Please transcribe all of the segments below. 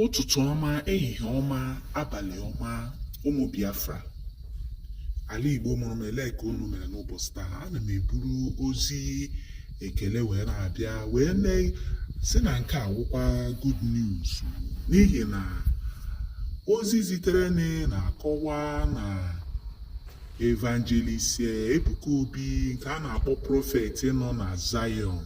ụtụtụ ọma ehihie ọma abalị ọma ụmụ biafra ala igbo mụrụ m ele ka unu mere n'ụbọchị taa ana m eburu ozi ekele wee na-abịa wee na-asị na nke a wụkwa good news n'ihi na ozi zitere na-akọwa na evangelist ebuka obi nke a na-akpọ prọfet nọ na zion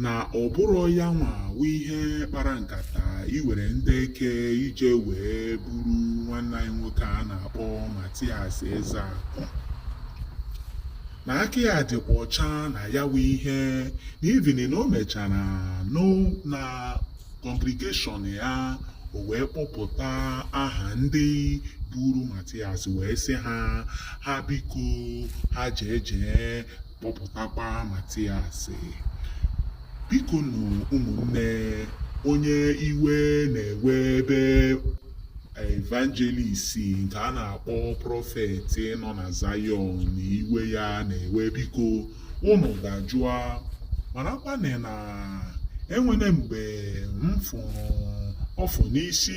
na ọ bụrọ ya nwa wụ onye kpara nkata iwere ndị eke ije wee buru nwanne anyị nwoke a na-akpọ Matias Ezeakụ na aka ya dịkwa ọcha na ya wụ ihe na even na o mechara nọ na congregation ya o wee kpọpụta aha ndị buru Matias wee sị ha ha biko ha jee jee kpọpụtakwa Matias biko nụ ụmụnne onye iwe na-ewe ebe evangelist nke a na-akpọ prọfet nọ na Zion na iwe ya na-ewe biko ụnụ dajụọ marakwana na enwere mgbe m fụrụ ọfụ n'isi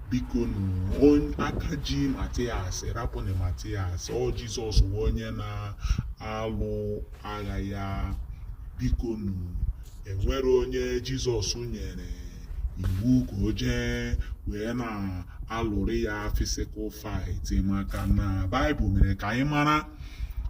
biko nu aka ji Matias rapụnụ Matias ọ Jizọs wụ onye na-alụ agha ya biko nu enwere onye Jizọs nyere iwu ka o jee wee na-alụrụ ya physical fight maka na Baịbụl mere ka anyị mara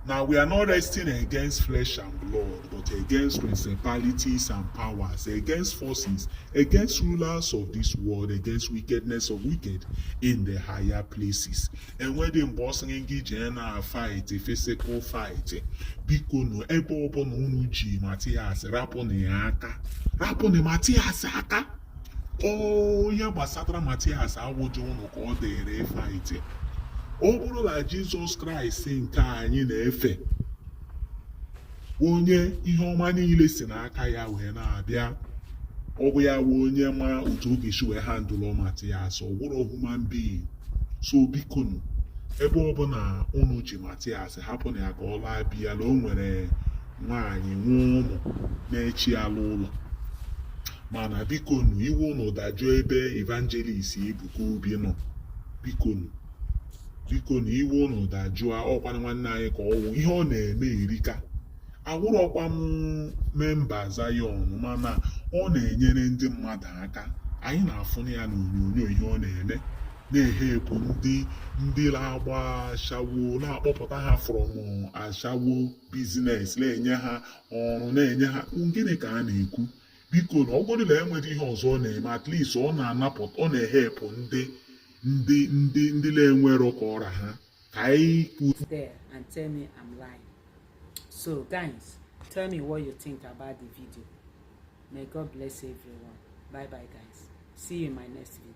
na we are not wrestling against flesh and blood but against principalities and powers, against forces, against rulers of this world, against wickedness of wicked in the higher places. And when the boss ngi jena fight, a physical fight, biko no ebe ọbụla unu ji Matias rapụ na ya aka rapụ na Matias aka ihe gbasatara matias awụrọ ụnụ ka ọ dịrị ị fight ọ bụrụ na jizọs kraịst nke anyị na-efe onye ihe ọma niile si n'aka ya wee na-abịa ọ bụ ya wụ onye ma otu ọ ga-esi wee handle matias ọ wụrọ human being so biko nụ ebe ọbụla unu ji matias hapụnụ ya ka ọ laa be ya na o nwere nwaanyị nwee ụmụ na-eche ya n'ụlọ mana bikonu iwe unu dajụọ ebe evangelist Ebuka Obi nọ bikonu bikonu iwe unu dajụọ ọ kwanụ nwanne anyị ka ọ wụ ihe ọ na-eme erika awụrọkwa m member Zion mana ọ na-enyere ndị mmadụ aka anyị na-afụnụ ya n'onyonyo ihe ọ na-eme na-ehelp ndị ndị na-agba ashawo na-akpọpụta ha from ashawo business na-enye ha ọrụ na-enye ha gịnị ka a na-ekwu biko na ọ wụgodu na enweghị ihe ọzọ ọ na-eme at least ọ na-anapụta ọ na-ehelp ndị ndị ndị ndị na-enwero ka ọ ra ha ka anyị kwuo there and tell me I'm lying so guys tell me what you think about the video may God bless everyone bye bye guys see you in my next video